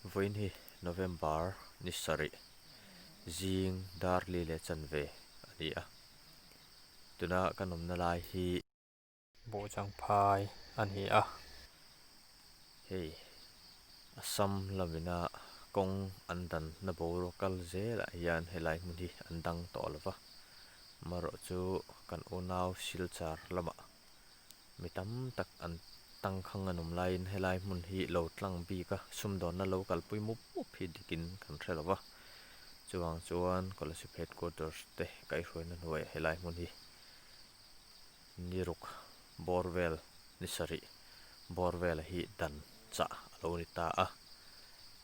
Vawiin hi November ni sarih zing dar li leh chan ve a ni a, tuna kan awmna lai hi. Bawhchangphai a ni a. Hei Assam lam ina kawng an dan na boruak kal zel ah hian he lai hmun hi an dang tawh lo va, marawh chu kan unau Silchar lamah. Mi tam tak an tangkhang a nawm laiin helai hmun hi lo tlang bik a sumdawnna lo kalpui mup mup hi dikin kan hre lo va, chuvang chuan Coalesip Headquarters te kaihhruaina hnuaia helai hmun hi niruk bawr vel ni sarih bawr vela hi dan chah a lo ni ta a,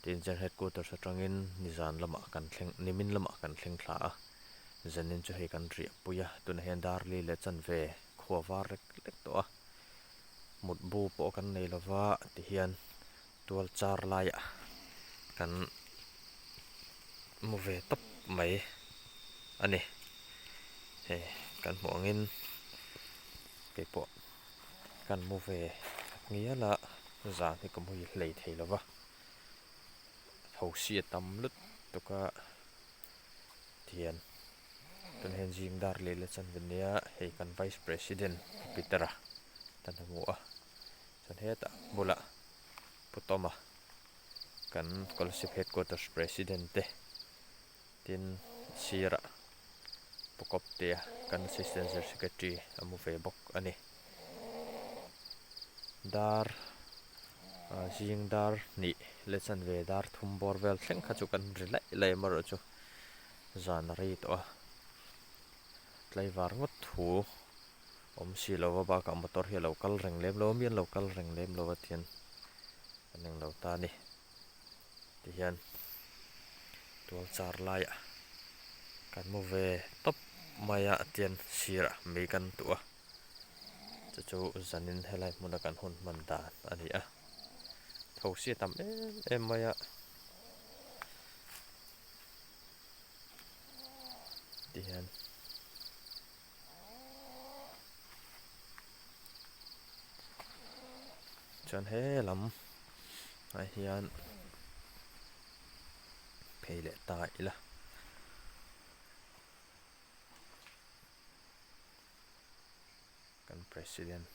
tin General Headquarters atangin nizan lamah kan thleng nimin lamah kan thleng thla a. Zenin chu hei kan riahpui a, tunah hian Darli leh Chanve khua var rek rek tawh a, mutbu pawh kan nei lo va tihian tual char laiah kan mu ve tawp mai a ni. Hei kan hmuh angin keipawh kan mu ve ngial a, zan hi ka mu hei hlei thei lo va, hosia tam lut tuk a. Thian kan hen zing dar leh la chanve nia a hei kan vice president peter a kan ha hmu a chuan hetah bulah putawma kan scholarship headquarters president te tin sirah pu kawptea kan assistant zir secretary a mu ve bawk a ni. dar ah zing dar hnih le chanve dar thum bawr vel thleng kha chu kan ri laih laih amarawh chu zan a rei tawh a tlaivar ngawt thu awm si lo a bakah motor hi a lo kal reng lem lo a mi an lo kal reng lem lo a tihian ka ning lo ta a ni tihian tualchar laiah kan mu ve tawp mai a tihian sirah mei kan duh a. chu chu zanin helai hmuna kan hun hman dan a ni a thosi a tam em em mai a ti hian chuan he lam ah hian phei leh ta ila. kan president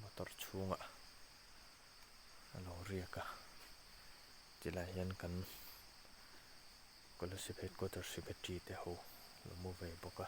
motor chhunga a lo riak a ti lah hian kan coalsive headquarter secretary te ho lo mu ve bawk a.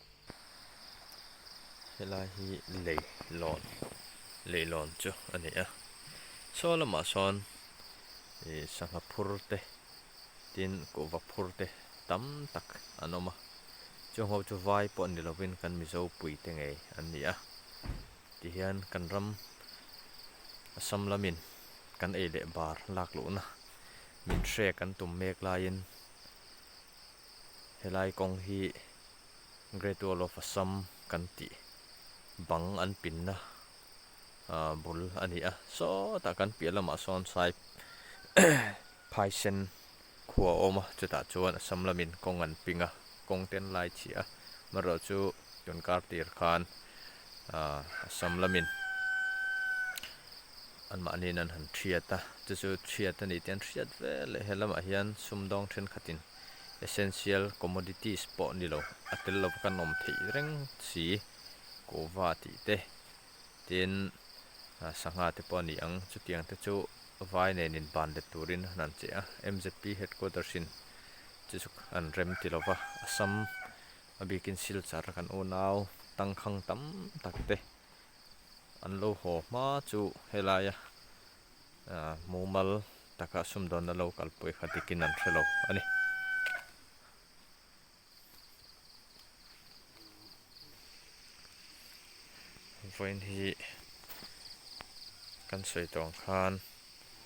Helai hi lei lawn lei lawn chu a ni a saw lamah sawn ih sangha phur te tin kuhva phur te tam tak an awm a chungo chu vai pawh ni lovin kan mizo pui te ngei an ni a tihian kan ram assam lamin kan ei leh bar lak luhna min hriat kan tum mek laiin Helai kawng hi Great Wall of Assam kan tih bang an pinna bul a ni a, sawtah kan piah lamah sawn Sai Phaisen khua a awm a, chutah chuan Assam lamin kawng an ping a, kawng ten lai chiah a, amaherawhchu Tunkartir khan Assam lamin anmahniin an han hriat a, chu chu hriat a ni tih an hriat vel e. He lamah hian sumdawng thenkhatin essential commodities pawh ni lo a tel lo kan awm theih reng si, kova tih te, tin sangha te pawh a ni ang. Chutiang te chu vai nen in ban let turin a han che a, mzp headquarters in chu chu an rem ti lo va, Assam A bikin silchar kan unau tangkhang tam tak te an lo haw hma chu helaia mumal taka sumdawnna lo kal pawh kha dikin an hrelo a ni. Vawiin hi kan sawi dawn khan.